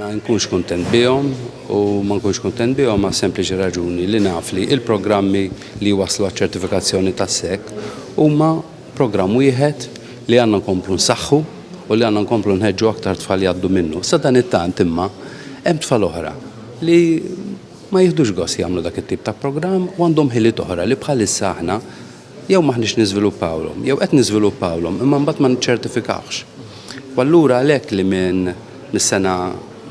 Ma nkunx kuntent bihom u ma nkunx kuntent bihom ma' sempliċi raġuni li naf li il-programmi li waslu għaċ-ċertifikazzjoni tas-sek huma programm wieħed li għandna nkomplu nsaħħu u li għandna nkomplu nħeġġu aktar tfal jgħaddu minnu. Sa dan it-tant imma hemm tfal oħra li ma jieħdux gost jagħmlu dak it-tip ta' programm u għandhom ħiliet oħra li bħalissa aħna Jew m'aħniex niżviluppawlhom, jew qed niżviluppawlhom imma mbagħad ma niċċertifikawhx. U allura għalhekk li minn mis-sena,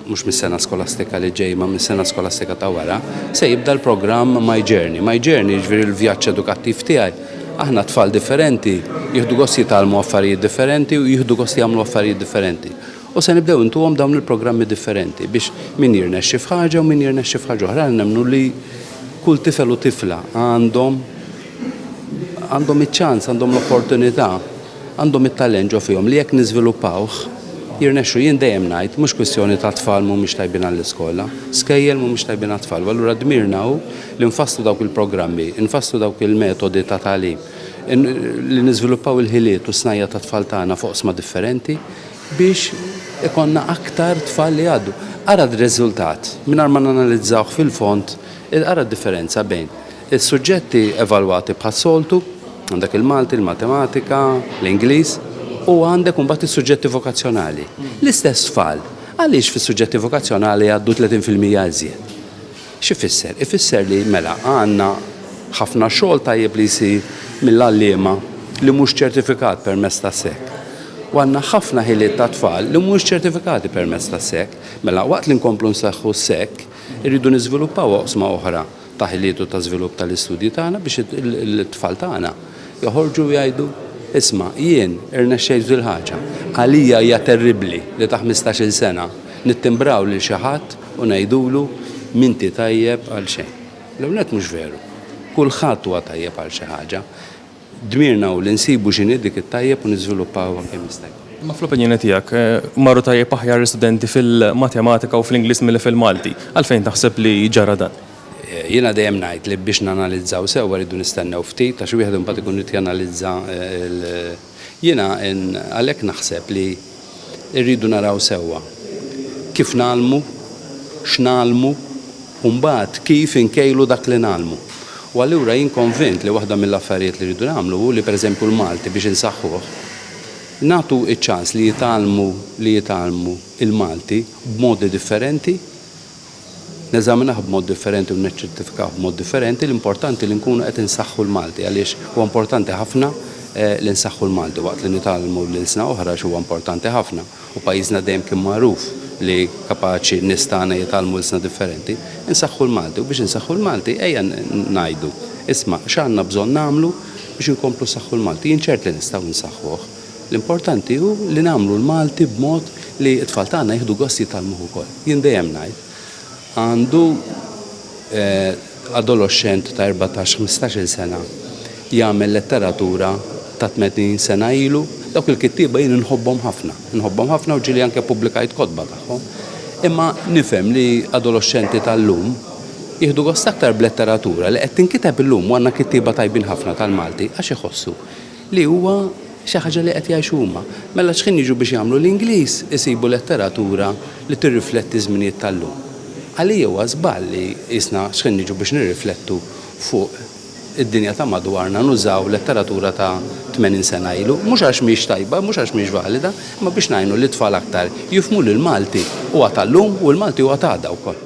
mhux mis-sena skolastika li ġej imma mis-sena skolastika ta' wara, se jibda l-programm My Journey. My Journey jiġifieri l-vjaġġ edukattiv tiegħi. Aħna tfal differenti jieħdu gost jitgħallmu affarijiet differenti u jieħdu gost jagħmlu affarijiet differenti. U se nibdew intuhom dawn il-programmi differenti biex min jirnexxi f'ħaġa u min jirnexxi f'ħaġa oħra. Aħna nemmnu li Kull tifel u tifla għandhom għandhom iċ-ċans, għandhom l-opportunità, għandhom it-talent ġo fihom li jekk niżviluppawh jirnexxu. Jien dejjem ngħid mhux kwistjoni ta' tfal mhumiex tajbin għall-iskola, skejjel mhumiex tajbin għat-tfal u allura dmirna hu li nfasslu dawk il-programmi, nfasslu dawk il-metodi ta' tagħlim, li niżviluppaw il-ħiliet u s-snajja' tat-tfal tagħna f'oqsma differenti, biex ikollna aktar tfal li jgħaddu. Ara d-riżultat, mingħajr ma nanalizzawh fil-fond, ara d-differenza bejn is-suġġetti evalwati bħas-soltu, għandek il-Malti, il-Matematika, l-Ingliż, u għandek imbagħad is-suġġetti vokazzjonali. L-istess tfal, għaliex fis-suġġetti vokazzjonali jgħaddu 30% iżjed? X'ifisser? Ifisser li, mela, għandna ħafna xogħol tajjeb li jsir mill-għalliema li mhux ċertifikat permezz tas-SEC. U għandna ħafna ħiliet tat-tfal li mhumiex ċertifikati permezz tas-SEC. Mela, waqt li nkomplu nsaħħu s-SEC, irridu niżviluppaw oqsma oħra ta' ħiliet u ta' żvilupp tal-istudji tagħna biex it-tfal tagħna joħorġu u jgħidu, Isma', jien irnexxejt f'dil-ħaġa. Għalija hija terribbli li ta' ħmistax-il sena nittimbraw lil xi ħadd U ngħidulu, M'inti tajjeb għal xejn. L-ewwel nett mhux veru. Kulħadd huwa tajjeb għal xi ħaġa. Dmirna hu li nsibu x'inhi dik it-tajjeb u niżviluppawha kemm jista' jkun. Imma fl-opinjoni tiegħek, marru tajjeb aħjar l-istudenti fil-Matematika u fl-Ingliż milli fil-Malti. Għalfejn taħseb li ġara dan? Jiena dejjem ngħid li biex nanalizzaw sewwa rridu nistennew ftit għax wieħed imbagħad ikun irid janalizza l. Jiena għalhekk naħseb li rridu naraw sewwa kif ngħallmu, x'ngħallmu u mbagħad kif inkejlu dak li ngħallmu. U allura jien konvint li waħda mill-affarijiet li rridu nagħmlu hu li pereżempju l-Malti biex insaħħuh, nagħtu ċ-ċans li jitgħallmu li jitgħallmu l-Malti b'modi differenti, neżaminah b'mod differenti u neċċettifikah b'mod differenti, l-importanti li nkunu qed insaħħu l-Malti għaliex huwa importanti ħafna li nsaħħu l-Malti waqt li nitgħallmu l-ilsna oħra għax huwa importanti ħafna u pajjiżna dejjem kien magħruf li kapaċi n-nies tagħna jitgħallmu ilsna differenti. Insaħħu l-Malti u biex insaħħu l-Malti ejja ngħidu, isma' x'għandna bżonn nagħmlu biex inkomplu nsaħħu l-Malti. Jien ċert li nistgħu nsaħħuh. L-importanti hu li nagħmlu l-Malti b'mod li t-tfal tagħna jieħdu gost jitgħallmuh ukoll. Jien dejjem ngħid, għandu adoloxxent ta' erbatax, ħmistax-il sena jagħmel letteratura ta' tmenin sena ilu, dawk il-kittieba jien inħobbhom ħafna, inħobbhom ħafna u ġieli anke ppubblikajt kotba tagħhom. Imma nifhem li adoloxxenti tal-lum jieħdu gost aktar b'letteratura li qed tinkiteb illum u għandna kittieba tajbin ħafna tal-Malti għax iħossu li huwa xi ħaġa li qed jgħixu huma. Mela x'ħin jiġu biex jagħmlu l-Ingliż isibu letteratura li tirrifletti ż-żminijiet tal-lum. Għalija huwa żball li qisna x'ħin niġu biex nirriflettu fuq id-dinja ta' madwarna nużaw letteratura ta' tmenin sena ilu, mhux għax mhix tajba, mhux għax mhix valida, imma biex ngħinu lit-tfal aktar jifhmu li l-Malti huwa tal-lum u l-Malti huwa t'għada wkoll.